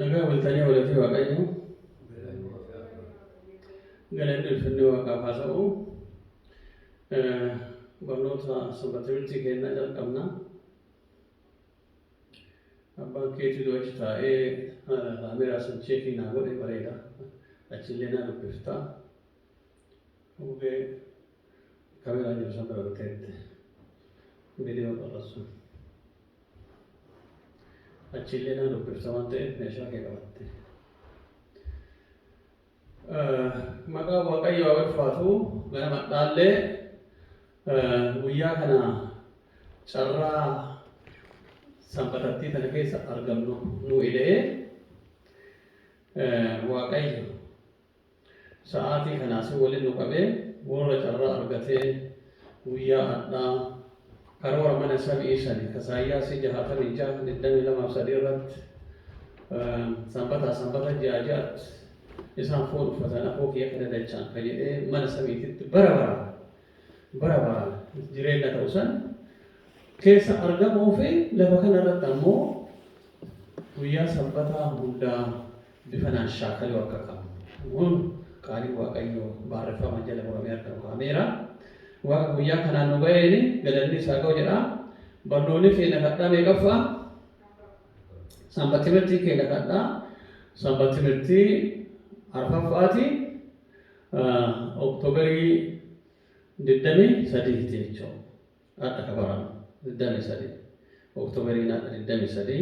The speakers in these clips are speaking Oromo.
Nagaa bultanii oolatii waaqayyoo galanni ulfinni waaqaaf haa ta'u. Barnoota sanbata timirtii kennaa jalqabna. Abbaan keetii doo achi taa'ee kaameeraa san cheekii naa godhee bareeda. Achillee naa dubbifta. Hubee. Camera jiru san bira dhufteetti viidiyoo qarratsu. Achiillee nama dubbifta waan ta'eef meeshaa kee qabatte. Maqaa Waaqayyo haa ulfaatu ganama dhaallee guyyaa kana carraa sanbatattii tana keessa argamnu nu ida'ee Waaqayyo Sa'aatii kana asin walin nu qabe worra carraa argate guyyaa adhaa karoora mana sam'ii sani ka Saayyaasii 66, 22 fi 3 irratti sanbataa sanbata ji'aa ji'atti isaan foon uffatan afoo kiyya ka dadachaan ka jedhee mana samiititti bara baraan bara baraan jireenna ta'u san keessa argamuu fi lafa kana irratti ammoo guyyaa sanbataa hundaa bifanaan shaakaluu akka qabnu huun qaaliin Waaqayyoo baarreffamaan jala muramee harka nu kaameera. Waaqa guyyaa kanaan nu ga'eeni galannii isaa ga'u jedha. Barnoonni keenya kadhaa meeqaffaa? Sanbat timirtiin keenya kadhaa sanbat timirtii arfaffaati Oktooberii 23 jechuudha. Har'a ka barana 23 Oktoberiin har'a 23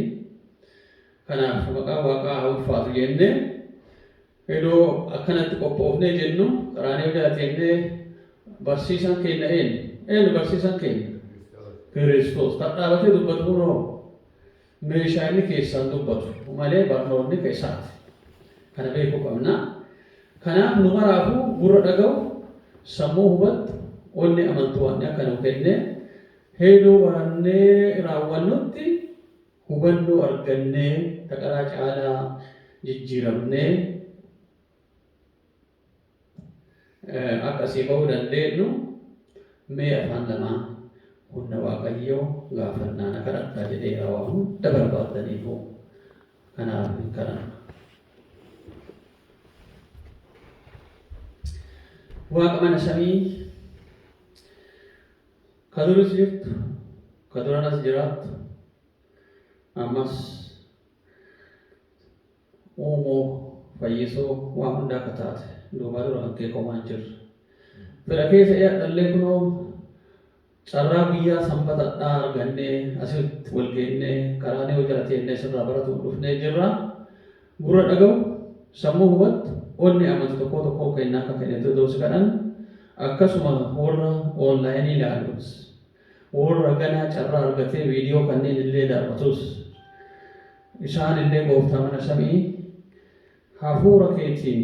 kanaaf maqaan waaqaa haa ulfaatu jennee hedoo akkanatti qophoofnee jennu qaraaniyoo jala teennee barsiisan keenna eenyu? Eenyu barsiisan keenna? Kiristoos. Kan dhaabatee dubbatu kunoo meeshaa inni keessaan dubbatu malee barnoonni ka isaati. Kana beekuu qabna. Kanaaf nu maraafuu gurra dhaga'u, sammuu hubattu, onnee amantu waanni akka nuu kenne heeduu barannee raawwannutti hubannoo argannee ta qaraa caalaa jijjiiramnee, Akka asii ba'uu dandeenyu mee afaan lamaan humna waaqayyoo gaafannaa na kadhadhaa jedheera waa hunda barbaaddaniifuu kanaaf hin kadhanna. Waaqa mana samii ka duris jirtu ka duranas jiraattu ammas uumuu, fayyisuu, waa hundaa ka taate, duubaa dura kan kee homaa hin jirre. Fedha kee ta'ee hadhallee kunoo carraa guyyaa sanbatadhaa argannee asitti wal geennee qaraaniyoo jala teennee sirraa baratu'uuf dhufnee jirra. Gurra dhagawu, sammuu hubattu, onnee amantu tokkoo tokkoon keennaa akka kennitu hedoo si kadhanna. Akkasuma worra online ilaalus. Worra ganaa carraa argatee viidiyoo kanneen illee daaw'atus, isaan illee Gooftaa mana sami'ii hafuura keetiin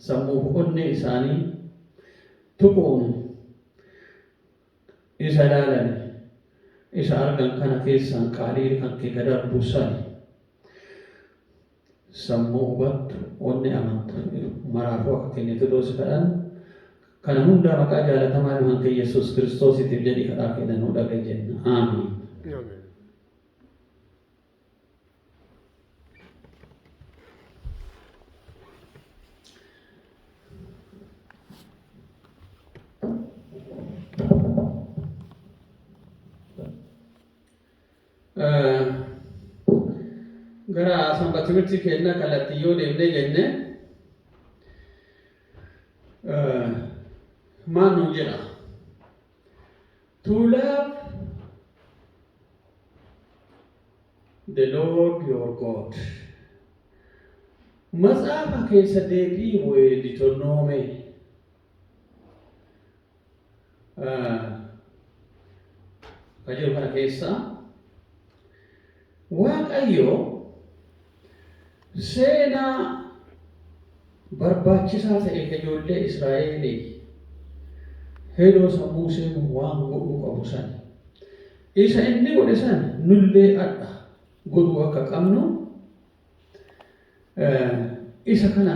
sammuu fi onnee isaanii tuquun isa ilaalani isa argan kana keessaan qaaliin kan kee ka darbu sani. Sammuu hubattu, onnee amantu maraafuu akka kennitutuu si kadhanna. Kana hundaa maqaa jaalatamaa ilman kee Yesuus Kiristoosiitiif jedhii kadhaa keenna nuu dhaga'i jenna. Aamiin. Amen. Gara sanbatimirtii keenna kallattiin yoo deemnee jenne maal nuun jedha? To love the Lord your God. Matsaafa keessa deebii Deuteronomy Ka jiru kana keessa Waaqayyo seenaa barbaachisaa ta'e ka ijoollee Israa'eelii hedoo san Muuseen waan godhuu qabu san isa inni godhe san nullee adha godhuu akka qabnu isa kana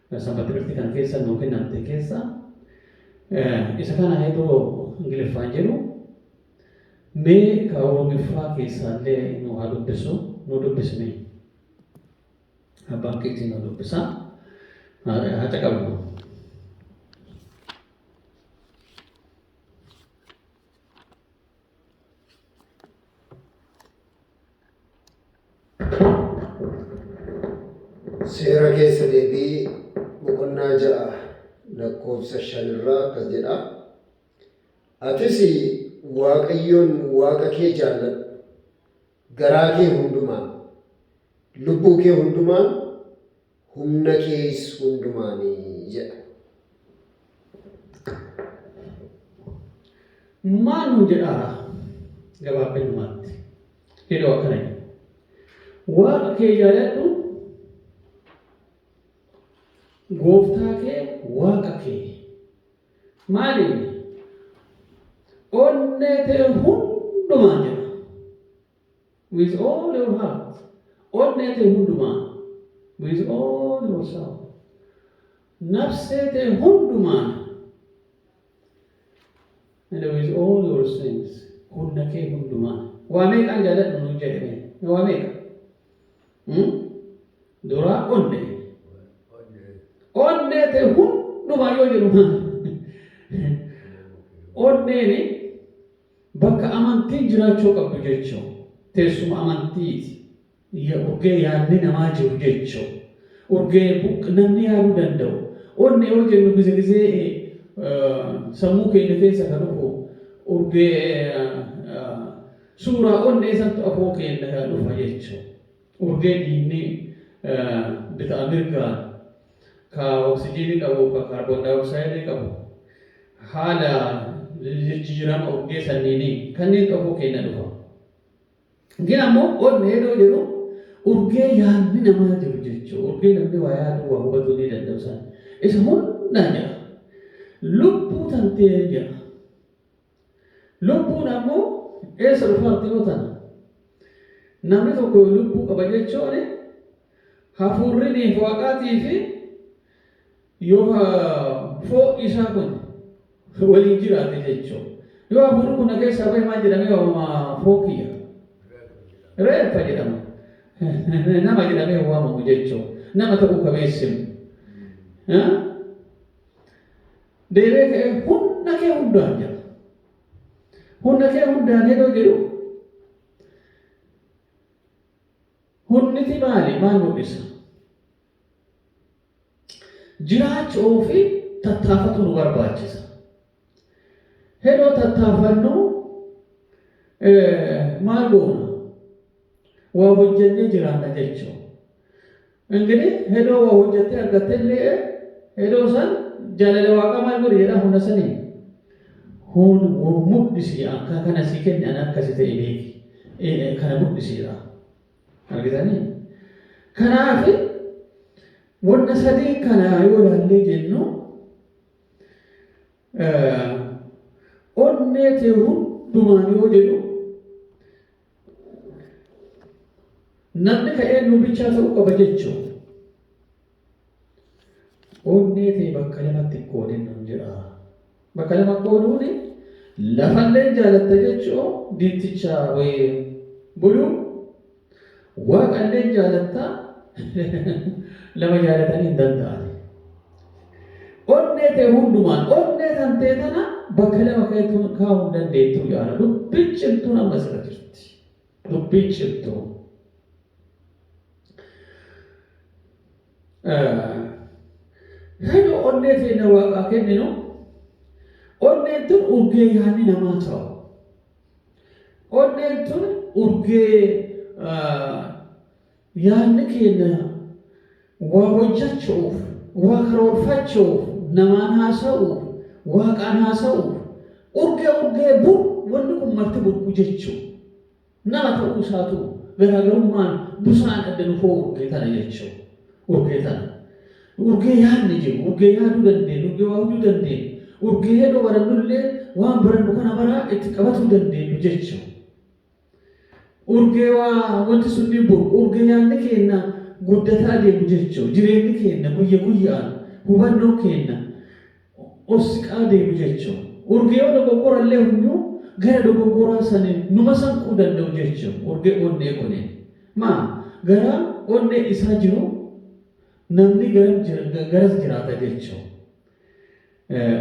Sanbatimirti kan keessa nuu kennamte keessa isa kana heeduu Ingiliffaan jedhu mee ka Oromiffaa keessaallee nuu haa dubbisu nuu dubbismee. Abbaan keetii nuu dubbisa haa caqabnu. Seera keessa deebii boqonnaa ja'a lakkoofsa shan irraa akkas jedha. Atis Waaqayyoon Waaqa kee jaalladhu. Garaa kee hundumaan, lubbuu kee hundumaan, humna kees hundumaan jedha. Maal nuun jedhaara? Gabaabbinumaatti. Hidhoo akkana jedha. Waaqa kee yaadadhu, gooftaa kee waaqa kee. Maaliin? Onnee ta'e hundumaan jedha. With all your heart. Onnee tee hundumaan. With all your soul. Nafsee tee hundumaan. And with all your strength. Humna kee hundumaan. Waa meeqaan jaaladhu nuun jedhame. Waa meeqa? Hmm? Duraa onnee. Onnee tee hundumaan yoo jedhu maal? Onneeni Bakka amantiin jiraachuu qabdu jechuun teessuma amantiiti. ya urgee yaadni namaa jiru jechuu urgee buq namni yaaduu danda'u onne yoo jennu gize gizee eh, sammuu keenya keessa ka dhufu urgee eh, eh, suuraa onnee santu afoo keenya dhufa jechuu Urgee dhiigni bita'a mirgaan ka oksijiinii qabuu ka kaarboondaayooksaayidii qabu haala jijjiirama urgee sanniinii kanniin xofuu keenna dhufa. Gin ammoo onnee yeroo jedhu urgee yaanni namaa jiru jechuu urgee namni waa yaaduu waa hubatuu ni danda'u san isa hundaan jedha. Lubbuu tantee jedha. Lubbuun ammoo eessa dhufartiyoo tana? Namni tokko lubbuu qaba jechuun hafuurri niif Waaqaatii fi yoo foon isaa kun waliin jiraate jechuu. Yoo hafuurri kun na keessaa bahe maal jedhamee waamama foon kiyya? Reeffa jedhama. Nama jedhamee hin waamamu jechuu. Nama ta'uu ka beessimu. Deebi'ee ka'ee humna kee hundaan jedha. Humna kee hundaan yeroo jedhu hunniti maali? Maal mul'isa? Jiraachuu fi tattaafatu nu barbaachisa. Yeroo tattaafannu maal goona? Waa hojjennee jiraanna jechuudha. Engini hedoo wa hojjattee argattelle'e, hedoo san jaalala Waaqaa maal godhi jedhaa huna saniin? Hun wuu mudhisi an ka kana sii kenne an akka si ta'e beeki, e, e, kana mudhisi jedhaa. Argitanii? Kanaafi wonna sadeen kana yoo ilaallee jennu e, onnee tee hundumaan yoo jedhu Namni ka eenyuu bichaa ta'uu qaba jechuun onnee ta'e bakka lamatti qoodin nun jedha. Bakka lama qooduun lafallee jaalatta jechuu diinticha wayii buluu waaqallee jaalatta lama jaalatanii hin danda'an. Onnee tee hundumaan, onnee tantee tana bakka lama keetuun kaa'uu hin dandeettuu yaa Rabbi. Dubbiin cimtuun amma sirra jirti. Dubbiin cimtuun. Hedoo onnee teenna waaqaa kenninu onneen tun urgee yaanni namaa ta'u. Onneen tun urgee Yaadni keenna waa hojjachu'uuf, waa karoorfachu'uuf, namaan haasawu'uuf, Waaqaan haasawu'uuf, urgee urgee bu wanni kun marti burqu jechu nama ta'uu isaatu garaagarummaan busaan adda nu fo'u urgee tana jechu urgee tana. Urgee yaadni jiru, urgee yaaduu dandeennu, urgee waa hujuu dandeennu, urgee hedoo barannullee waan barannu kana maraa itti qabatuu dandeennu jechu. Urgee waa wanti sunniin bor urge yaadni keenna guddata adeemu jechu jireenni keenna guyya guyya'aan hubannoon keenna ol siqaa adeemu jechu urge yoo dogoggorallee hunyuu gara dogoggoraa sani numa sanquu danda'u jechu urge onnee kunin maa garaa onnee isaa jiru namni garam jira garas jiraata jechu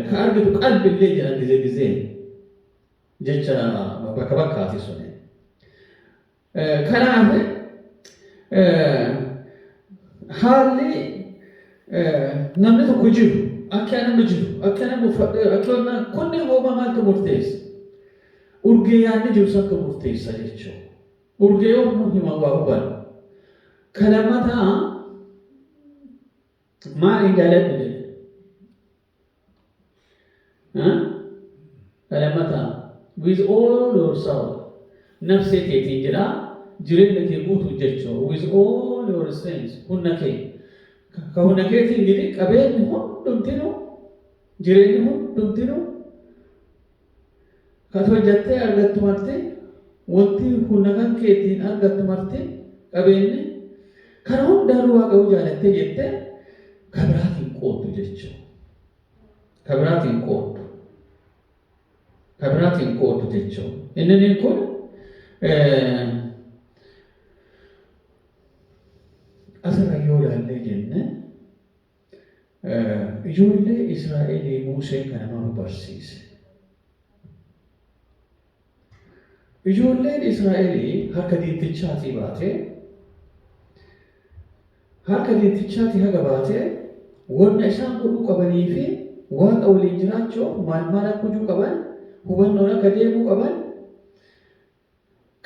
ka argitu qalbillee jedhan gize gizee. jecha bakka bakkaati suni. Kanaaf haalli namni tokko jiru akka nama jiru akka nama uffadhe akka wanna kunni hooma maaltu murteessa? Urgee yaadni jiru santu murteessa jechuudha. Urgee yoo nu himan waa hubanna. Kan lammataa maaliin dhaladhu jedhe Haa? Kadhamataa. With all your soul. Nafsee teetiin jedha. Jireenya kee guutuu jechuu. With all your strength. Humna kee. Ka ka humna keetiin gidi qabeenyi hundumtinuu jireenyi hundumtinuu Kan hojjattee argattu marti, wonti hunna kan keetiin argattu marti, qabeenne, kana hundaa irra Waaqa yoo jaalattee jette, ka biraaf hin qooddu jechuu. Ka biraaf hin qooddu. Ka biraaf hin qooddu jechuu. Inniniin kun asirra yoo ilaallee jenne, Ijoollee Israa'elii Muuseen kana maal barsiise? Ijoolleen Israa'elii harka diintichaatii baatee harka diintichaatii haga baatee wanna isaan godhuu qabanii fi waaqa waliin jiraachuuf maal maal akka hojuu qaban hubannoon akka deemuu qaban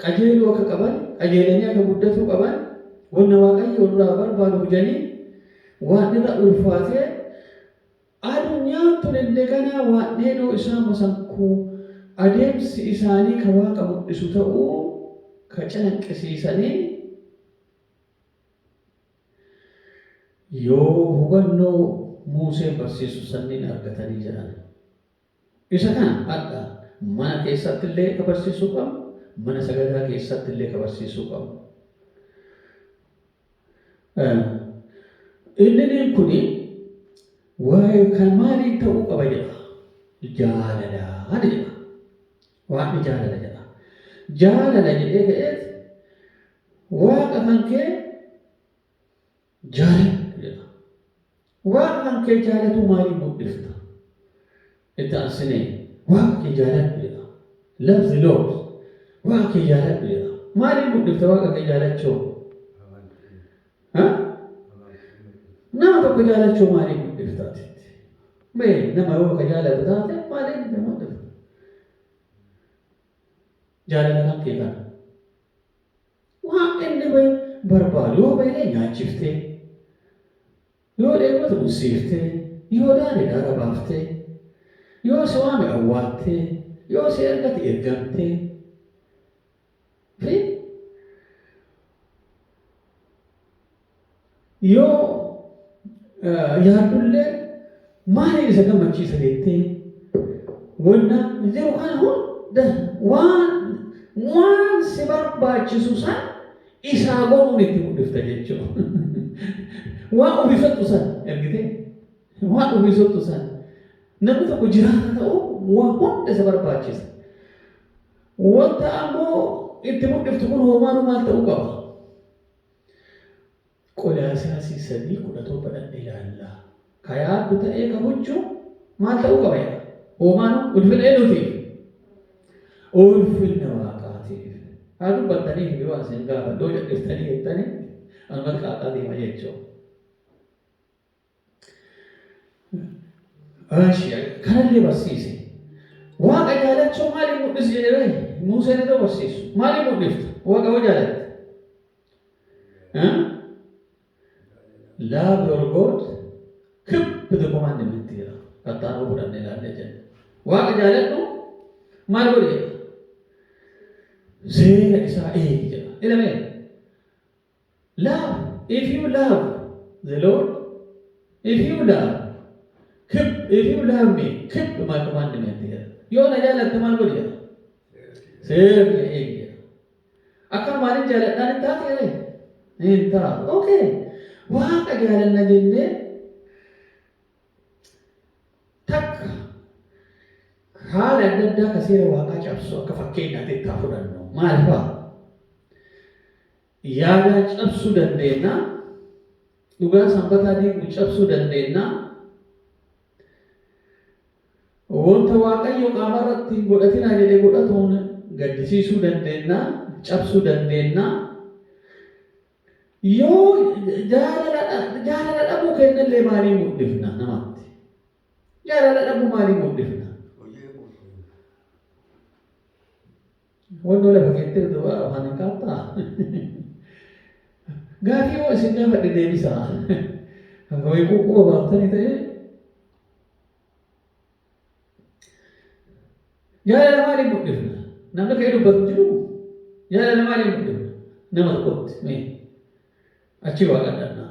qajeeluu akka qaban, qajeelanii akka guddatuu qaban, wanna Waaqayyoo nurraa barbaadu hujanii, waan irra ulfaatee adunyaan tun indegana waan dheedoo isaan masankuu, adeemsi isaanii ka Waaqa mudhisu ta'uu ka calanqisiisanii, yoo hubannoo Muuseen barsiisu sanniin argatanii jedhan. Isa kana hadha mana keessatti illee ka barsiisuu qabnu, mana sagadaa keessatti illee ka barsiisuu qabnu. Inniniin kuni waa'ee kan maaliin ta'uu qaba jedha? Jaalalaan jedha. Waaqni jaalala jedha. Jaalala jedhee ka'eet waaqa kan kee Jaaladhu jedha. Waaqa kan kee jaalatuu maaliin mudhifta? Itti aansinee Waaqa kee jaaladhu jedha. Love the Lord. Waaqa kee jaaladhu jedha. Maaliin mudhifta Waaqa kee jaalachuu? Ha? Nama tokko jaalachuu maaliin mudhifta atitti? Mee nama yoo ka jaalatu taate maaliin itti mudhifta? Jaalala kan kee kana. Waan inni bahe barbaadu yoo bahellee nyaachiftee, yoo dheebote ussiiftee, yoo daade daara baaftee, yoo si waame awwaattee, yoo si ergate ergamtee fi. Yoo yaaddullee maaliin isa gammachiisa jettee wannaa jiru kana hunda waan waan si barbaachisu san isaa godhuun itti mul'ifta jechuu. waan ofii soxxu san ergitee waan ofii soxxu san namni tokko jiraata ta'u waan hunda isa barbaachisa. Wanta ammoo itti mul'iftu kun hoomaanuu maal ta'uu qaba? Qolaasiyasii 3 17 dhaqne ilaalla. Ka yaaddu ta'ee ka huccu maal ta'uu qaba jedha? Hoomaanu ulfina eenuutiif? Ulfinna waaqaatiif. Haa dubbattaniif mee waan isin gaafadhu yoo cadhiftanii jettanii anumatti qaaqaa deema jechuu. Kanallee barsiise. Waaqa jaalachuu maaliin mul'isi jedhee Muuseen iddoo barsiisu. Maaliin mul'ifta? Waaqa yoo jaalatte. Love your God, keep the commandment jedha. Kattaan yoo fudhanne ilaallee jenna. Waaqa jaaladhu maal godhi jedha. Seera isaa eegi jedha. Ilamee Love if you love the Lord if you love keep if you love me keep my commandment jedha yoo na jaalatte maal godhi jedha seera kiyya eegi jedha akkanumaan hin jaaladhaan hin taatu jedhe hin taatu okay waaqa jaalanna jennee takka haala adda addaa ka seera waaqaa cabsu akka fakkeenyaatti itti haa fudhannu maal fa'a Yaadaa cabsuu dandeenna, dhugaa Sanbataa diigu cabsuu dandeenna, wanta Waaqayyo qaama irratti hin godhatinaa jedhe godhatuun gaddisiisuu dandeenna, cabsuu dandeenna. Yoo jaalala dha- jaalala dhabuu keenya illee maalii mul'ifna namatti? Jaalala dhabuu maalii mul'ifna? Hojii eeguuf. Wannoo lafa keettee duwaa afaan hin qaabtaa? Gaafii yoo isin gaafadhe deebisaa. Wayii quuquba baaftanii ta'ee. Jaalala maaliin mul'ifna? Namni ka'ee dubbatu hin jiru. Jaalala maaliin mul'ifna? Nama tokkotti mee achii waa qadhannaa.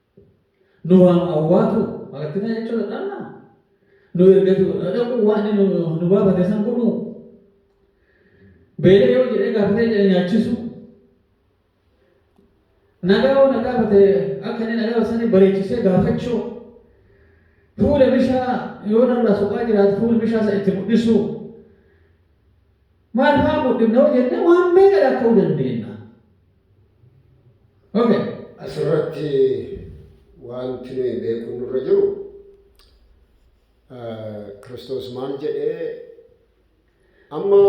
nu waan awwaatu marattina jechuu dadhabna nu ergatu dhaquu waan inni nu, nu baafate san godhuu beelee yoo jedhee gaafatee jedhe nyaachisuu nagaa yoo na gaafate akka inni nagaa sanii bareechisee gaafachuu fuula mishaa yoo narraa soqaa jiraate fuula mishaa san itti mul'isuu Maal faa guddifna yoo jenne waan meeqa lakka'uu dandeenna? Okay. Asirratti waanti nuyi beekuun nurra jiru Kiristoos maal jedhee amma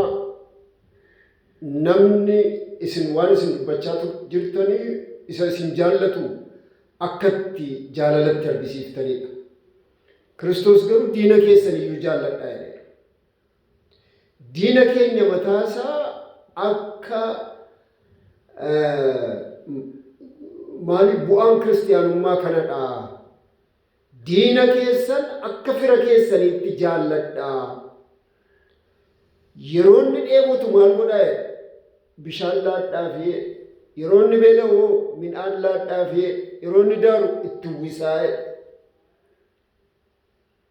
namni isin waan isin dubbachaa jirtanii isa isin jaallatu akkatti jaalalatti argisiiftaniidha. Kiristoos garuu diina keessan iyyuu jaalladhaa jedheera. Diina keenya mataa isaa akka maali bu'aan kiristiyaanummaa kanadha. Diina keessan akka fira keessaniitti jaalladha. Yeroo inni dheebotu maal godhaa jedhe? Bishaan laadhaa fi yeroo inni beela'u midhaan laadhaa fi yeroo inni daaru itti uwwisaa jedhe.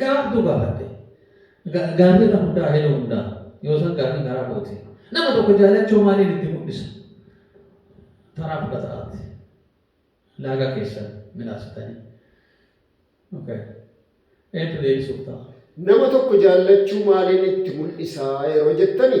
Gaabduu gaafadhe. Ga, gaafii irra hundaa, heloo hundaa. Yoo san gaafii garaa kooti. Nama tokko jaalachoo maaliin itti mudhisa? Taraa fudhata ati. Laaga keessan milaasitanii. Okay. Eentu deebisuuf ta'a? Nama tokko jaallachuu maaliin itti mul'isaa yeroo jettani?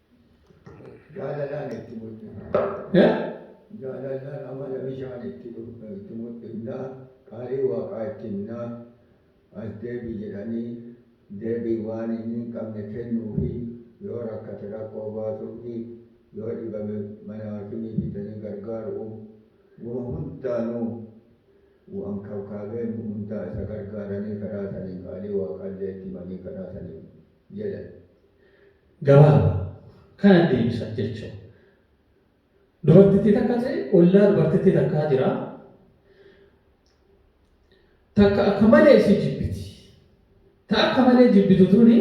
Jaalalaan itti mul'ifna. Jaalalaan amala bishaan itti mul'ifna. Qaalii waaqaa itti himna. As deebi jedhanii deebii waan inni hin qabne kennuufi. Yoo rakkate rakkoo baasuufi. Yoo dhibame mana haakimii fidanii gargaaru'u. Wama hundaanuu waan kabkaabee hundaa isa gargaaranii karaa saniin qaalii waaqaallee itti himanii karaa saniin jedhan. gabaaba kana deebisan jechu dubartittii takka te ollaa dubartittii takkaa jira takka akka malee isii jibbiti ta akka malee jibbitu tuni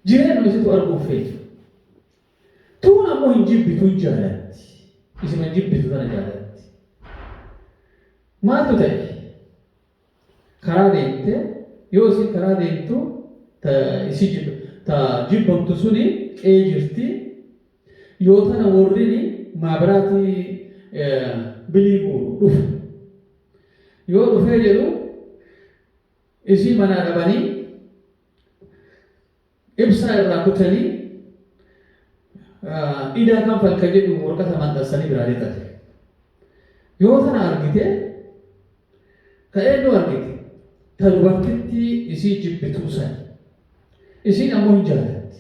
jireenuma isitu arguu feetu tuun ammoo hin jibbitu hin jaalatti isima jibbitu tana jaalatti maaltu ta'e karaa deemte yoo isin karaa deemtu ta isi jib ta jibbamtu suni qee jirti yoo tana worrini maabiraati bilii guuru dhufe yoo dhufee jedhu isii manaa dhabanii Ibsaa irraa kutanii idaa kanfal ka jedhu worqata maxxansanii biraa lixate. Yoo tana argite ka eennu argite? Ta dubartittii isii jibbituu sani. Isiin ammoo hin jaalatti.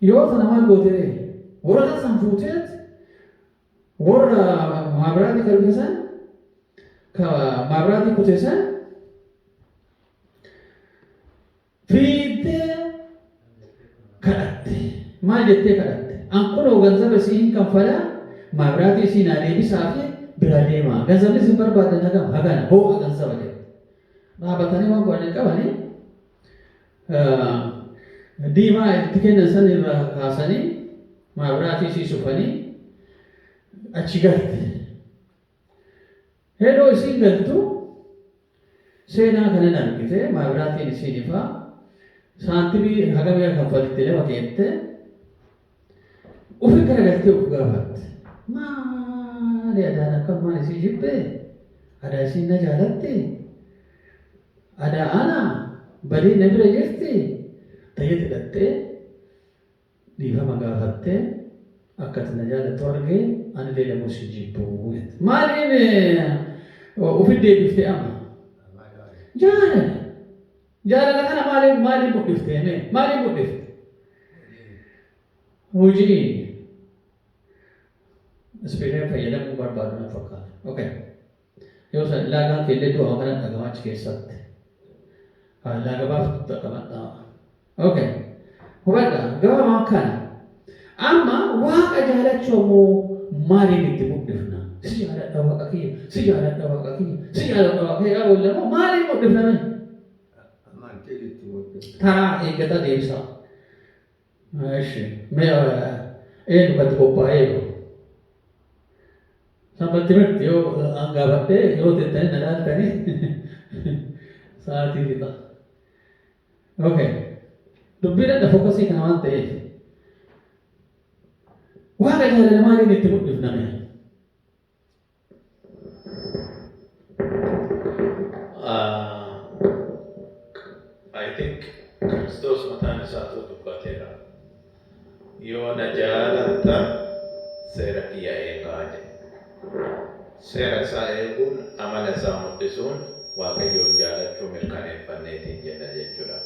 Yoo tana maal goote ree? Woraqata san fuuteet worra maabiraatii ka dhufe san ka maabiraatii kute san fiiddee kadhatte. Maal jettee kadhatte? An kunoo ganzaba isii hin kanfalaa, maabiraatii isii naa deebisaa fi biraa deemaa. Ganzabni isin barbaaddan hagam? Hagana. Hooqa ganzaba jette. Dhaabatanii waan godhan hin qabanii. Diimaa itti kennan san irraa kaasanii maabiraatii isii sufanii achi galte. Hedoo isiin galtuu seenaa kanan argitee maabiraatiin isiin ifaa saantimii hagam ega kanfalitti lafa keettee ufi garagaltee uf gaafatte maali adaan akkanumaan isii jibbee adaa isiin na jaalatti adaa ana badee na bira jirti ta jette dhaxxee Dhiifama gaafatte akka ati na jaalattu argee anillee damuu si jibbu jette. Maaliin ofitti deebifte amma? Jaalala. Jaalala kana maaliin maaliin mudhiftee mee? Maaliin mudhifte? Hojiin. Ispeeshaal fayyadamuun barbaadu na fakkaata. Okay. Yoo san ilaagaan keellee du'a waan kana dhagama achi keessatti. Faallaa gabaabtu dhaqabadhaa. Ok. Hubadha gama waan kana. Amma waaqa jaalachuu ammoo maaliin itti mul'ifna? Si jaaladha waaqa kiyya, si jaaladha waaqa kiyya, si jaaladha waaqa kiyya gaafa illee ammoo maaliin mul'ifna mee? Amantiin itti mul'ifna. Taraa eeggataa deebisaa. Eshi. Me eenyu kan itti qophaa'ee jiru? Sabba timirti yoo an gaafadhee yeroo teettanii na laaltanii sa'aatii fixa. Okay. Dubbii dhadha fookasii kana waan ta'eef. Waaqa jaalala maaliin itti mul'ifname? I think Kiristoos mataan isaatu dubbateera. Yoo na jaalattan seera kiyya eegaa jedhe. Seera isaa eeguun amala isaa mul'isuun Waaqayyoon jaalachuu mirkaneeffanneetiin jenna jechuudha.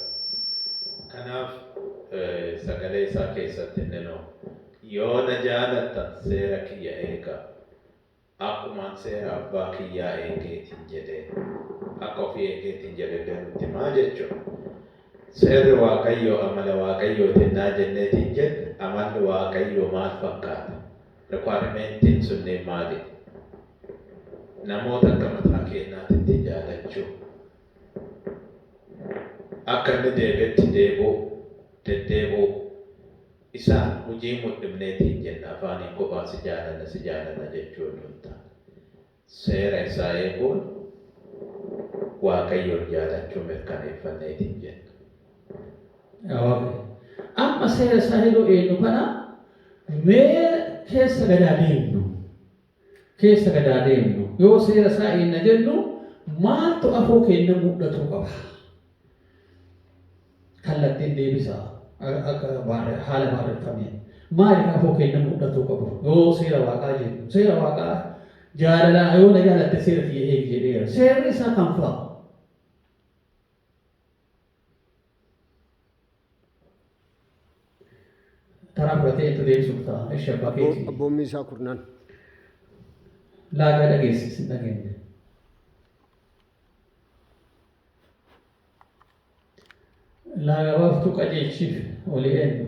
Kanaaf sagalee isaa keessatti inni nu Yoo na jaalattan seera kiyya eegaa. Akkumaan seera Abbaa kiyyaa eegeetiin jedhee, akka ofii eegeetiin jedhellee nutti himaa jechuun. Seerri Waaqayyoo amala Waaqayyooti hennaa jenneetiin jenne, amalli Waaqayyoo maal fakkaata? Requiremeentiin sunniin maalidha? Namoota akka mataa keennaatitti jaalachuu, akka inni deebetti deebi'uu, deddeebi'uu. Isaa hujii mudhimneetiin jenna afaaniin kophaa si jaalanna si jaalanna jechuu odoo hin taane seera isaa eeguun Waaqayyoon jaalachuu mirkaneeffanneetiin jenna. ok amma seera isaa yeroo eennu kana mee keessa gad haa deemnu. keessa gad haa deemnu. Yoo seera isaa eegna jennu maaltu afoo keenya mudhatuu qaba? Kallattiin deebisa akka haala baarreffameen. Maaliif afoo keenya mudhatuu qabu? Yoo seera waaqaa jennu. Seera waaqaa jaalalaa yoo na jaalatte seera kiyya eegi jedheera. Seerri isaa kam fa'a? Taraa fudhatee itti deebisuuf ta'a. Eshi abbaa keetii. Abboommii isaa kurnaan. Laagaa dhageessi sin dhageenya. Laagaa baaftuu qajeelchiif olii eenyu.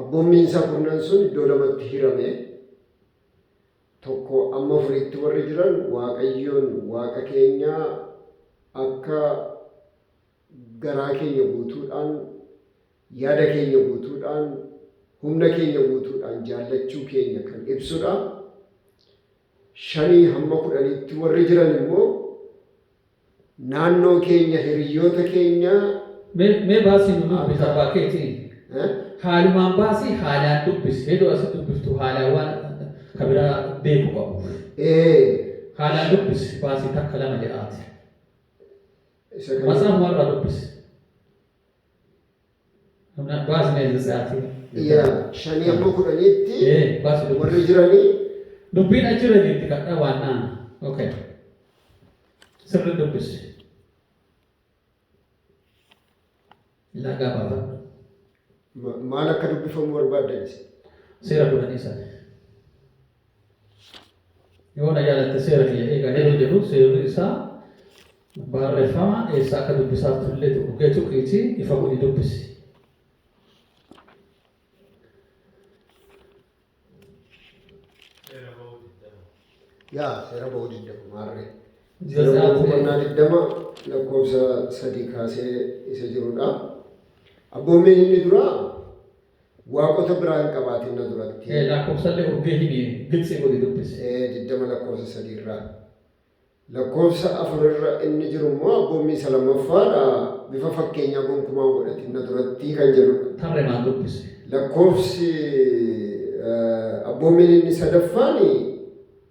Abboommii isaa kurnan sun iddoo lamatti hirame, tokko amma afuriitti warri jiran Waaqayyoon Waaqa keenya akka garaa keenya guutuudhaan, yaada keenya guutuudhaan, humna keenya guutuudhaan jaallachuu keenya kan ibsudha. Shanii hamma kudhaniitti warri jiran immoo Naannoo keenya hiriyyoota keenya. Mee mee baasii nu dubbisi abbaa keetiin haalumaan baasii haalaan dubbisi heduu asi dubbiftu haalaan waan ka biraa beeku qabu Ee, haalaan dubbisi baasii takka lama jedhaati isa kana matsaafumarraa dubbisi Hamna baas mee isin sa'aatii. Yaa shanii amma kudhaniitti Ee baas dubbi. warri jiranii Dubbiin achirra jirti kadhaa waan naan. Okay. Sirri dubbisi. Lagaa baafadhu. ma- maal akka dubbifamu barbaaddanis. Seera kudhanii sana. Yoo na yaadatte seera kiyya eegan yeroo jedhu seerri isaa barreeffama eessaa akka dubbisaa turellee tuqee tuqiitii ifa godhi dubbisi. yaa seera ba'uu digdama maarree. Seera ba'uu boqonnaa digdama lakkoofsa sadii kaasee isa jirudha. Abboommeen inni duraa Waaqota biraa hin qabaatin na duratti. e. Laakkofsallee urgee himi, giltsii godhi dubbisi. e. 20 lakkoofsa 3 irraa. Lakkoofsa 4 irra inni jiru immoo abboommii isa lammaffaa dha, bifa fakkeenyaa gonkumaa hin godhatin na duratti kan jedhu dha. Tarremaan dubbisi. Lakkoofsi, e, abboommiin inni sadaffaan.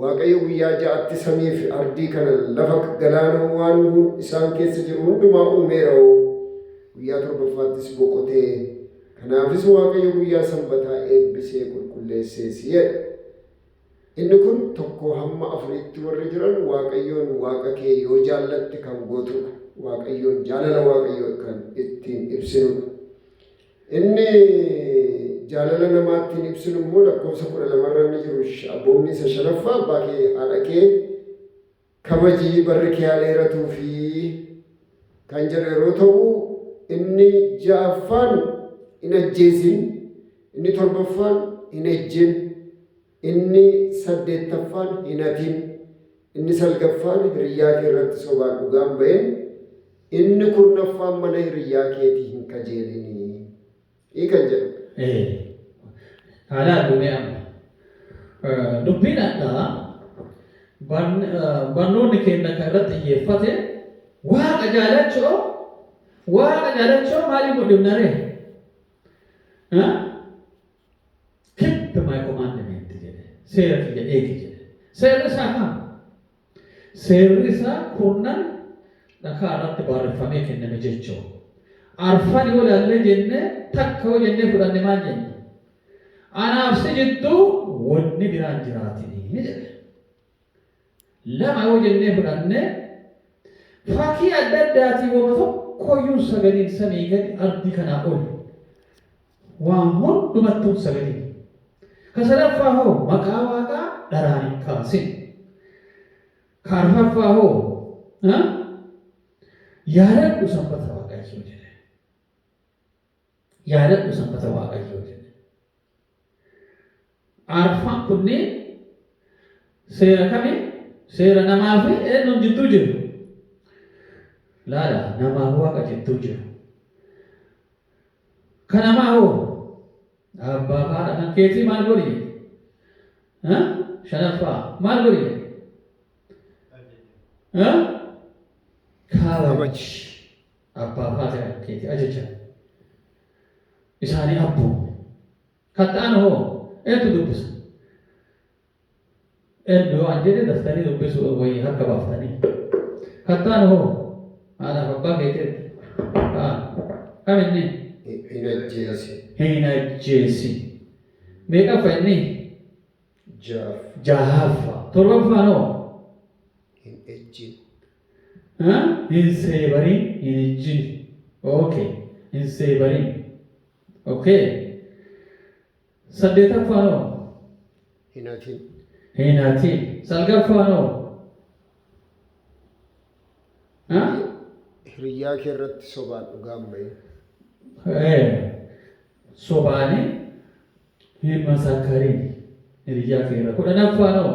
Waaqayyo guyyaa ja'atti samii fi ardii kana, lafa, galaanoo, waan isaan keessa jiru hundumaa uumeera'oo, guyyaa torbaffaattis boqote, kanaafis Waaqayyo guyyaa sanbataa eebbisee qulqulleessees jedha. Inni kun 1-4tti warri jiran Waaqayyoon Waaqa kee yoo jaallatte kan gootuudha. Waaqayyoon jaalala Waaqayyoo kan ittiin ibsinuudha. Inni jaalala namaa ittiin ibsinu immoo lakkoofsa kudha lama irra inni jiru abboommii isa shanaffaa abbaa kee haadha kee kabajii barri kee haa dheeratuu fi kan jedhu yeroo ta'u inni ja'affaan hin ajjeesin inni torbaffaan hin ejjin Inni saddeettaffaan hin hatin. Inni salgaffaan hiriyyaa kee irratti sobaan dhugaa hin ba'in. Inni kurnaffaan mana hiriyyaa keetii hin kajeelini. I kan jedhu. Ee. Haa laallu mee amma. Dubbiin hadhaa barnoonni keenna kan irratti xiyyeeffate waaqa jaalachu'oo waaqa jaalachu'oo maaliin mul'ifna ree? Keep my commandment jedhe. Seera kiyya eegi jedhe. Seerri isaa kana. Seerri isaa kurnan dhakaa irratti barreeffamee kenname jechuudha. Arfan yoo ilaallee jennee takka yoo jennee fudhanne maal jenna? Anaaf si jidduu wanni biraan jiraatinii jedhe. 2 yoo jennee fudhanne, fakkii adda addaatiin woma tokkoyyuu hin sagadin, samii gadi, ardii kanaa oli, waan hundumattuu hin sagadin. Ka sadaffaa hoo maqaa Waaqaa dharaan hin kaasin. Ka arfaffaa hoo ha? yaadadhu sanbata Waaqayyoo jedhe. Yaadadhu sanbata Waaqayyoo jedhe. Arfan kunneen seera kami? Seera namaa fi eenyuun jidduu jiru? Laala, namaa fi waaqa jidduu jiru. Ka namaa hoo? Abbaa fi haadha kan keetii maal godhi jedhe? Ha? Shanaffaa maal godhi jedhe? Ha? Kabaji. Abbaa fi haati keeti ajaja isaanii abboomi. Kan ta'an hoo eentu dubbisa? Eenyu yoo an jedhe daftanii dubbisuu wayii harka baaftanii. Kan ta'an hoo haadhaaf abbaa keeti ergi. Ka'an. Kam inni? Hin ajjeesin. Hin ajjeesin. Meeqaffa inni? Ja'affa. Ja'affa. Torbaffaan hoo? Hin ejjin. Hin seebarin hin ijjini ok hin seebarin ok saddeetaffaan hoo Hin hatin. hin hatin salgaffaan hoo ha Hiriyyaa kee irratti sobaan dhugaa hin bahin. ee sobaani hin masakkarin hiriyyaa kee irra kudhanaffaan hoo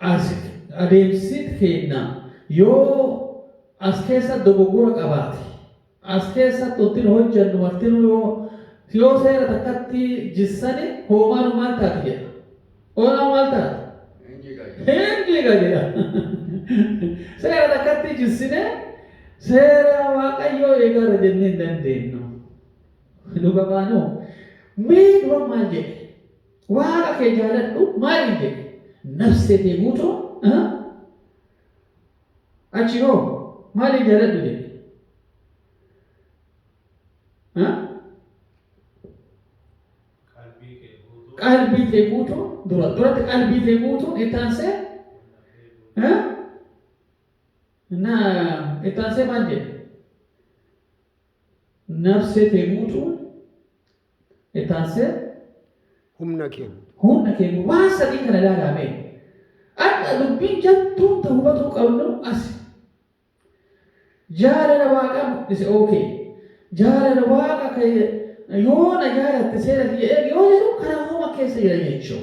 As adeemsit keenna yoo as keessa dogoggora qabaate, as keessatti wantin hojjannu martinuu yoo yoo seera takkatti jissane hoomaanu maal taati jedha. Hoomaanu maal taati? Hin jiga jedha. Hin jiga jedha. seera takkatti jissine seera waaqayyoo eegaarra jennee hin dandeennu. Dhugamaanuu mee dura maal jedhe? Waaqa kee jaaladhu maaliin jedhe? Nafsee tee guutuun aha. Achi hoo maaliin jaaladhu jedhe? Ha? Qalbii tee guutuun dura duratti qalbii tee guutuun itti aansee ha? Na itti aansee maal jedhe? Nafsee tee guutuun Itti aansee. Humna keenya. Humna keenya. Waan sadii kana ilaalaa mee. Har'a dubbiin jattuun ta hubatuu qabnu asi. Jaalala Waaqaa mul'ise OK. Jaalala Waaqa ka yoo na jaalatte seera kiyya eegi yoo jedhu karaa homa keessa jira jechuu.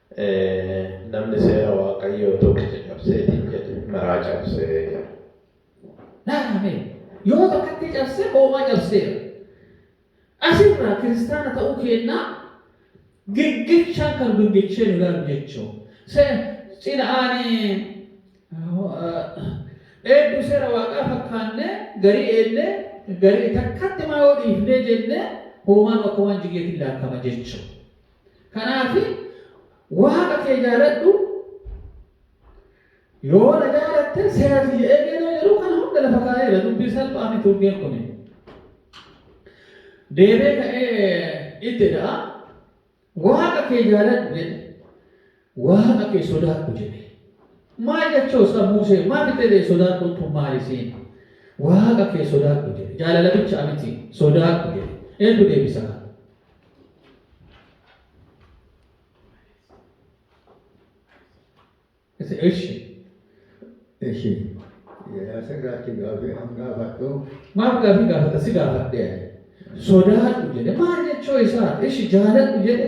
Namni seera Waaqayyoo tokkicha cabseetiin jedhe maraa cabse jedha. Laalaa mee! Yoo takkatti cabse hoomaa cabseera. Asirraa kiristaana ta'uu keennaa giggichaan kan giggichee nu laalu jechuu. Cina'aan eedduu seera Waaqaa fakkaannee garii eennee garii takkatti maa yoo dhiifnee jennee hoomaa nu akka waan jigeetiin laakkama jechuu. Kanaaf Waaqa kee jaaladhu, yoo na jaalatte seera kiyya eegi yeroo jedhu kana hunda lafa kaa'eera. Dubbii salphaa miti urgeen kun. Deebee ka'ee itti da'a. Waaqa kee jaaladhu jedhe. Waaqa kee sodaadhu jedhe. Maal jechuu sa Muusee maa fixee ta'e sodaadhuun tun maal isiin? Waaqa kee sodaadhu jedhe. Jaalala bicha amiti sodaadhu jedhe. Eentu deebisa kana? Ise ishi. Ishi. Asirraatti gaafii an gaafadhu. Maaf gaafii gaafata si gaafadhe ani. Sodaadhu jedhe. Maal jechuu isaa? Ishi jaaladhu jedhe.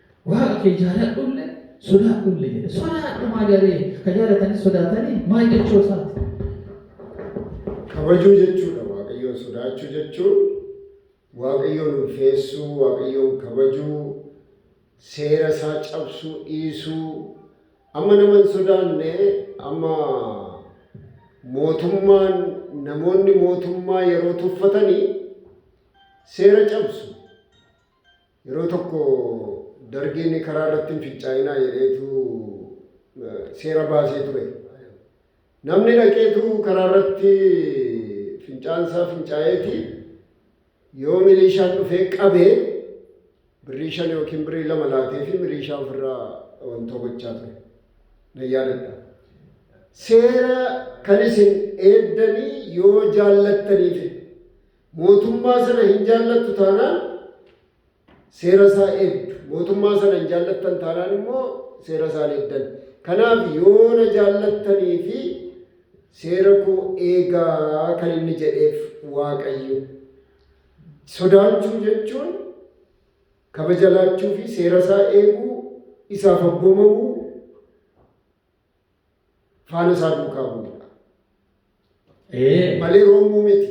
Waaqa kee jaaladhulle, sodaadhulle jedhe. Sodaadhu maali aree? Ka jaalatanis sodaatanii maal jechuu isaati? Kabajuu jechuudha. Waaqayyoon sodaachuu jechuun Waaqayyoon ulfeessuu, Waaqayyoon kabajuu, seera isaa cabsuu dhiisuu. Amma nama hin sodaanne, amma mootummaan namoonni mootummaa yeroo tuffatanii seera cabsu. Yeroo tokko Dargiin karaa irratti hin fincaa'inaa jedheetu seera baasee ture. Namni dhaqeetu karaa irratti fincaansaa fincaa'eeti yoo miliishaan dhufee qabee birrii shan yookiin birrii lama laatee fi miliishaa ofirraa wantoo gochaa ture. Na yaadadha. Seera kan isin eeddanii yoo jaallattaniifi. Mootummaa sana hin jaallattu taanaan seera isaa eegdu. Mootummaa sana hin jaallattan taanaan immoo seera isaa hin eegdan. Kanaaf yoo na jaallattanii fi seera koo eegaa kan inni jedheef Waaqayyo. Sodaachuu jechuun kabaja laachuu fi seera isaa eeguu, isaaf abboomamuu, Faana isaa duukaa bu'uudha. Ee. Malee roomuu miti.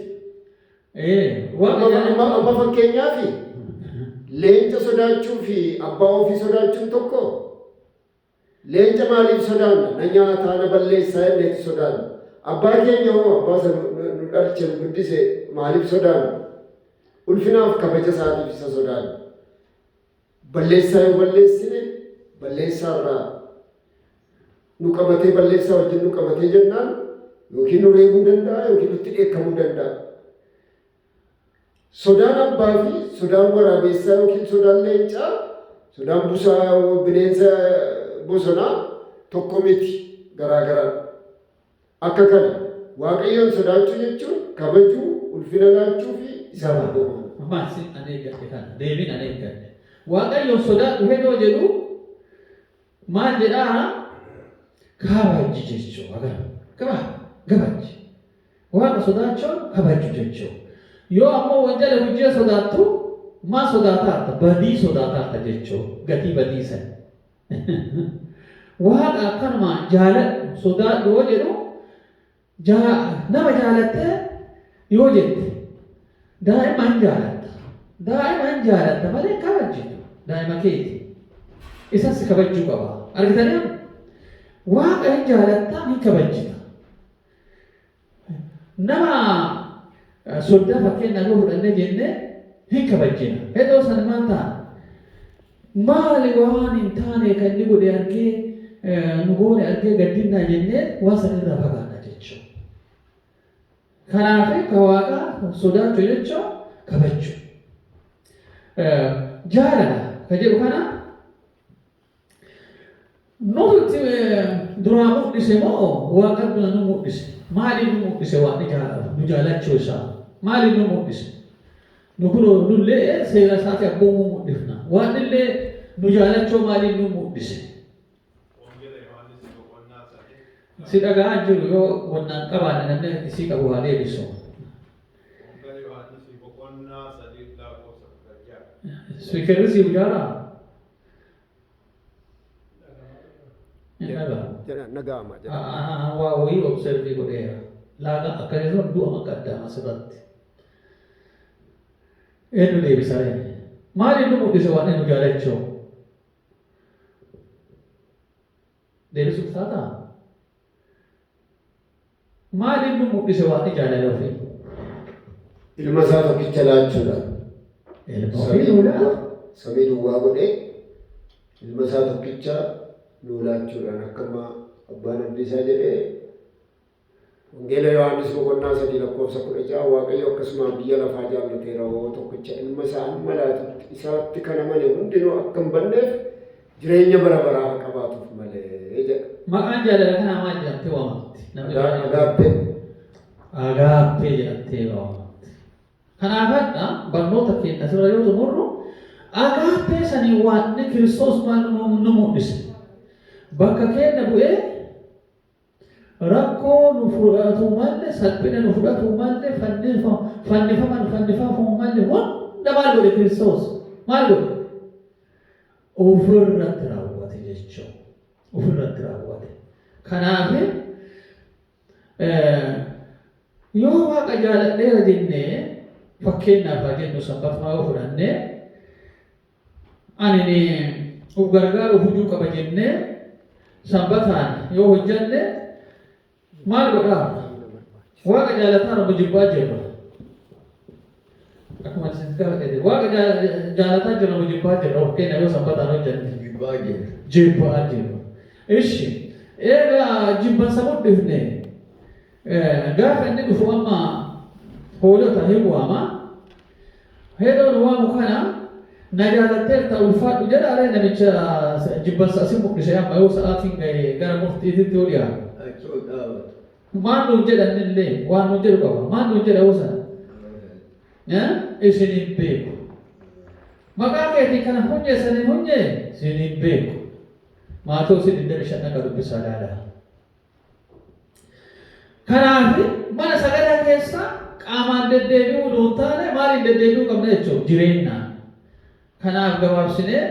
Ee. Waan Amma yaada- amma- amma fakkeenyaaf leenca sodaachuu fi abbaa ofii sodaachuun tokko leenca maaliif sodaanna? Na nyaataa na balleessaa jenneeti sodaanna. Abbaa keenya hoo abbaa isa nu- nu nu dhalche nu guddise maaliif sodaanna? Ulfinaaf kabaja isaatiif isa sodaanna. Balleessaa yoo balleessine balleessaa irraa nu qabatee balleessaa wajjin nu qabatee jennaan yookiin nu reebuu danda'a yookiin nutti dheekkamuu danda'a. Sodaan abbaa fi sodaan waraabeessaa yookiin sodaan leencaa sodaan busaa bineensa bosonaa tokko miti garaa garaadha. Akka kana, Waaqayyoon sodaachuu jechuun kabajuu, ulfina laachuu fi isaaf abboomamuu dha. Maal sin an eeggadhe kana? Deebii nan eeggadhe. Waaqayyoon sodaadhu hedoo jedhu maal jedhaa? Kabajji jechuu. Agarra. Gabaa, gabajji. Waaqa sodaachuun kabajju jechuu. Yoo ammoo wanjala hujjee sodaattu, maal sodaataarta? Badii sodaataarta jechuu. Gatii badii san. Waaqa akkanumaan jaaladhu, sodaadhu yoo jedhu, jaa, nama jaalattee yoo jette, daa'ima hin jaalatta. Daa'ima hin jaalatta malee hin kabajjitu. Daa'ima keeti. Isas si kabajjuu qaba. Argitanii amma? Waaqa hin jaalatta, hin kabajjita. Nama soddaa fakkeenyaaf yoo fudhannee jenne hin kabajjina. Hedoo san maal ta'a? Maali waan hin taane kan inni godhe argee nu goone argee gaddinnaa jennee waan san irraa fagaanna jechuudha. Kanaaf ka waaqaa sodaachuu jechuun kabajjuu. Jaalala ka jedhu kana Nuti duraa mul'ise moo Waaqayyo nu mul'ise? Maaliif nu mul'ise Waaqni jaalala nu jaalachuu isaa? Maaliif nu mul'ise? Nu kunoo nullee seera isaati abboomuu mul'ifna. Waaqni illee nu jaalachuu maaliif nu mul'ise? Wangeela Yohaannis boqonnaa sadii Si dhaga'aa hin jiru yoo wannaan qabaanne namni isii qabu haa deebisu. Wangeela Yohaannis boqonnaa sadii lakkoofsa kudha ja'a. Spiikerri siif jaaraa? Ni dhaga'a. Jedhaan dhaga'ama jedha. Aa, waa wayii observii godheera. Laaga akka irra du'a akka addaa asirratti. Eenyu deebisa ree? Maal inni mul'ise waan inni jaalachoo? Deebisuuf taataa? Maaliin nu mudhise Waaqi jaalala ufii? Ilma isaa tokkicha laachuudhaan. Ilma ufii nuu laate. Samii duwwaa godhee ilma isaa tokkicha nuu laachuudhaan akka amma abbaan abdii isaa jedhee Wangeela Yohaannis boqonnaa 3 lakkoofsa 16 Waaqayyo akkasumaa biyya lafaa jaallateera hoo tokkicha ilma isaa amma laatutti isaatti kan amane hundinuu akka hin banneef jireenya bara baraa haa qabaatuuf malee jedha. Maqaan jaalala kanaa maal jedhamtee waamamti? Namni Agaa- baay'een- Agaappee. Agaappee jedhamtee waamamti. Kanaaf hadha barnoota keenya asirra yoo xumurru agaappee sanii waaqni Kiristoos maal nu nu mul'ise? Bakka keenya bu'ee Rakkoo nu furgaatuu malle, salphina nu fudhatuu malle, fannifama nu fannifamuu malle hunda maal godhe Kiristoos? Maal godhe? Of irratti raawwate jechuu. Of irratti raawwate. Kanaaf yoo waaqa jaaladheera jennee fakkeenyaaf haa jennu sanbatumaa yoo fudhannee Anini uf gargaaru huju qaba jenne Sanbataan yoo hojjanne maal godha? Waaqa jaalataara mo jibbaa jirra? Akkuma isin gara jedhe waaqa jaalataa jirra mo jibbaa jirra of keenya yoo Sanbataan hojjanne? Jibbaa jirra. Jibbaa jirra. Ishi eega jibbansa mudhifne Gaafa inni dhufu amma hoolota hin waama. Heeroon waamu kana na jaalatteerta ulfaadhu jedha ree namicha jibbansa asin mul'ise amma yoo sa'aatiin ga'e gara murtiititti yoo dhiyaatu. Achi ol dhaabatu. Maal nuun jedhan illee waan nuun jedhu qaba. Maal nuun jedha yoo sana? Isin hin beeku. Maqaa keetiin kana hunyee sana hin hunyee isin hin beeku. Maatoosi 25 akka dubbisaa ilaala. Kanaa fi mana sagadaa keessaa qaamaan deddeebi'uu utuu hin taane maaliin deddeebi'uu qabna jechuudha? Jireennaan. Kanaaf gabaabsinee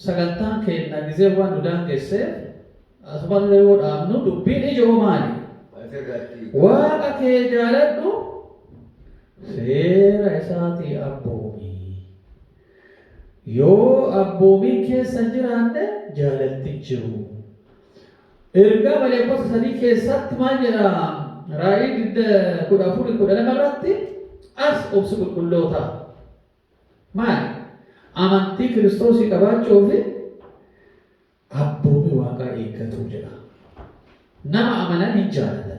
sagantaan keenna gizee waan nu daangesseef asumarra yoo dhaabnu dubbiin ijo'oo maali? Asirratti. Waaqa kee jaaladhu, seera isaatii abboomi. Yoo abboomiin keessa hin jiraanne jaalalti hin jiru. Ergaa maleekkota sadii keessaatti maal jedha? Raa'ii digda kudha afur kudha lama irratti as obsi qulqullootaa maali? Amantii Kiristoosii qabaachuu fi abboomii waaqaa eeggatuu jedha. Nama amanan hin jaalatan.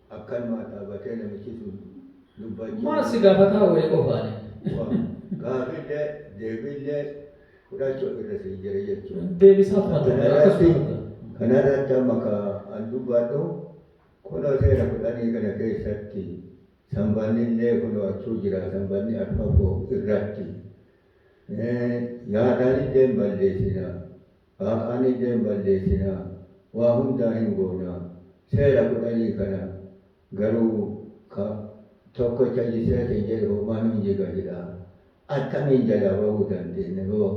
Akkanumaa dhaabatee namichii sun dubbachaa jiru. Maal si gaafataa wali qofaani. Gaafiillee deebiillee fudhachuu irra sii jira jechuudha. Deebisaa kuma tokko akkasuma fudhaa. Kanarratti amma ka an dubbadhu kunoo seera kudhanii kana keessatti sanbannillee kunoo achuu jira sanbanni arfaffoo irratti yaadaanillee hin balleessina Haaqaaniillee hin balleessina, waa hundaa hin goona, seera kudhanii kana garuu ka tokkocha jisee siin jedhe hoomaa nuun jiga jedha, attamiin jalaa bawuu dandeenna yoo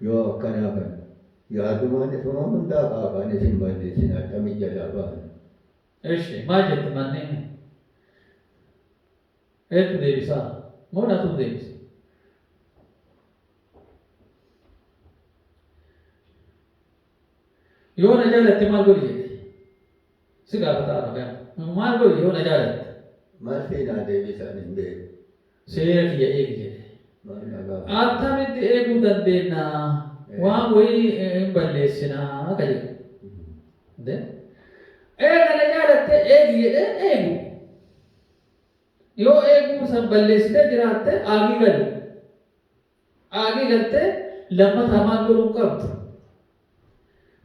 yoo akkanaa kana yaadumaan isuma hundaa ka Haaqaanis hin balleessina attamiin jalaa baana? Eshi maal jette manniin? Eentu deebisaa? Moo natuu deebisa? yoo na jaalatte maal godhi jedhe si gaafata arabaan maal godhi yoo na jaalatte Maal sii naa deebisaan hin beeku. seera kiyya eegi jedhe Maal na gaafata. attamitti eeguu dandeenya waan wayii eh, hin balleessinaa ka jedhu De? eega na jaalatte eegi jedhe eegu yoo eeguu san balleessitee jiraatte aagii galu Aagii galtee lammataa maal godhuun qabda?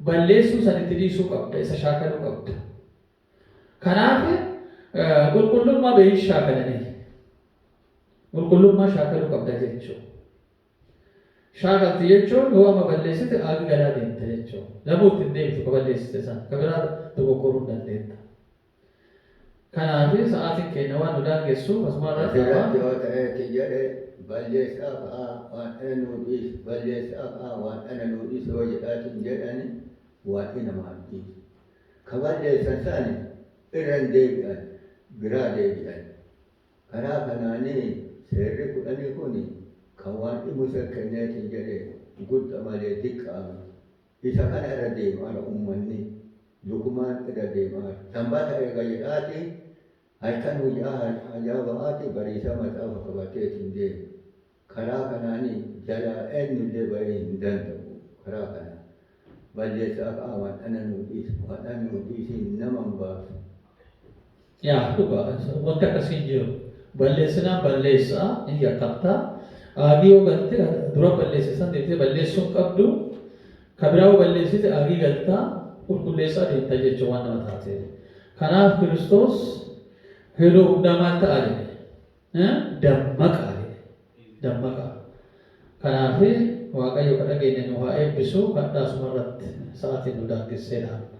Balleessuu san itti dhiisuu qabda, isa shaakaluu qabda. Kanaaf qulqullummaa beeyin shaakalanii. Qulqullummaa shaakaluu qabda jechuu. Shaakalti jechuun yoo amma balleessite aagii galaa deemta jechuu. Lamuu ittiin deebitu ka balleessite san ka biraa dogoggoruun dandeetta. Kanaafi sa'aatin keenya waan nu daangessuuf asuma irratti Isin irratti ammaan. yoo ta'ee ti jedhe, balleessa'aaf a waan dhana nuu dhiisi, balleessa'aaf a waan dhana nuu dhiisi yoo jedhaatiin jedhani Waaqi namaa hin dhiisu. Ka balleessan sani irra hin deebi'an, biraa deebi'an. Karaa kanaani Seerri kudhanii kuni ka Waaqi Musee kenneetiin jedhe gudda malee diqqaa miti. Isa kana irra deemaara ummanni, lukumaan irra deemaara. Sanbata eega jedhaati, halkan guyyaa hajaa ba'aati, bariisaa maxaafa qabateeti hin deemu. Karaa kanaani jalaa eennu illee ba'ee hin danda'u. Karaa kanaan balleessaa qaamaan ana nuu dhiisi, Waaqni ana nuu dhiisi, nama hin baasu. Yaa dhugaa wanti akkasii hin jiru. Balleessinaan balleessa hin yakkabta. Aagii yoo galte dura balleesse san deebitee balleessuu hin qabdu. Ka biraa yoo balleessite aagii galta qulqulleessaa deemta jecha waan nama taateef. Kanaaf Kiristoos yeroo hundaa maal ta'a jedhe? Dammaqaa jedhe. Dammaqaa. Kanaaf Waaqayyo ka dhageenye nu haa eebbisu kadhaa sumarratti sa'aatiin nu daangessee dhaabna.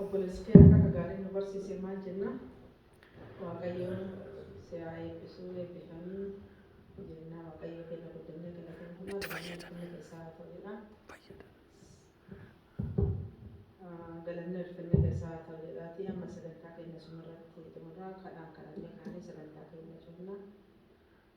Obboleessi kee akka gaariin nu barsiise maal jenna? Waaqayyoon si haa eebbisu eebbifamii jenna Waaqayyo keenya guddannee galateeffannaa galanni ulfinni keessaa haa ta'udha. Ah, Galanni ulfinni keessaa haa ta'udhaatii amma sagantaa keenya sumarratti xumurra kadhaan kadhannee kaanee sagantaa keenya cufna.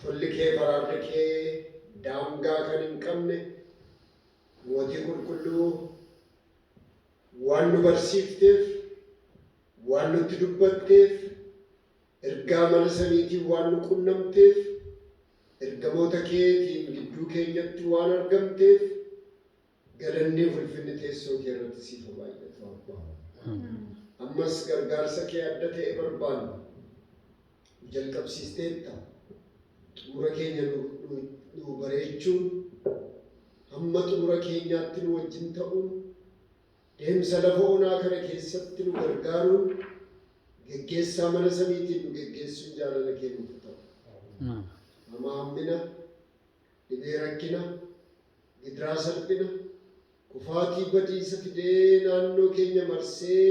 Tolli kee fi araarri kee daangaa kan hin qabne, Mootii Qulqulluu, waan nu barsiifteef, waan nutti dubbatteef, ergaa mana samiitiin waan nu qunnamteef, ergamoota keetiin gidduu keenyatti waan argamteef, Galanni fi ulfinni teessoo kee irratti siif haa baay'atu Abbaa. Ammas gargaarsa kee adda ta'e barbaanna. Jalqabsiisteetta. Xumura keenya nu, nu, nu bareechuun, hamma xumura keenyaatti nu wajjin ta'uun, deemsa lafa onaa kana keessatti nu gargaaruun, geggeessaa mana samiitiin nu geggeessuun jaalala kee nuuf haa ta'u. Hamaa hammina, Dhibee rakkina, gidiraa salphina, kufaatii badiisa fidee naannoo keenya marsee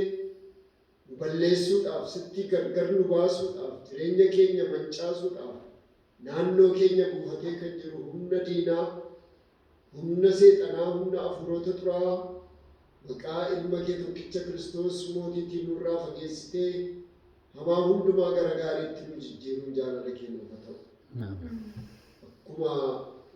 nu balleessuudhaaf, sittii gargar nu baasuudhaaf, jireenya keenya mancaasuudhaaf naannoo keenya buufatee kan jiru humna diinaa, humna seexanaa, humna afuurota xuraa'aa maqaa Ilma kee tokkicha Kiristoos Mootiitiin nurraa fageessitee Hamaa hundumaa gara gaariitti nu jijjiiruun jaalala kee nuuf haa ta'u. Akkuma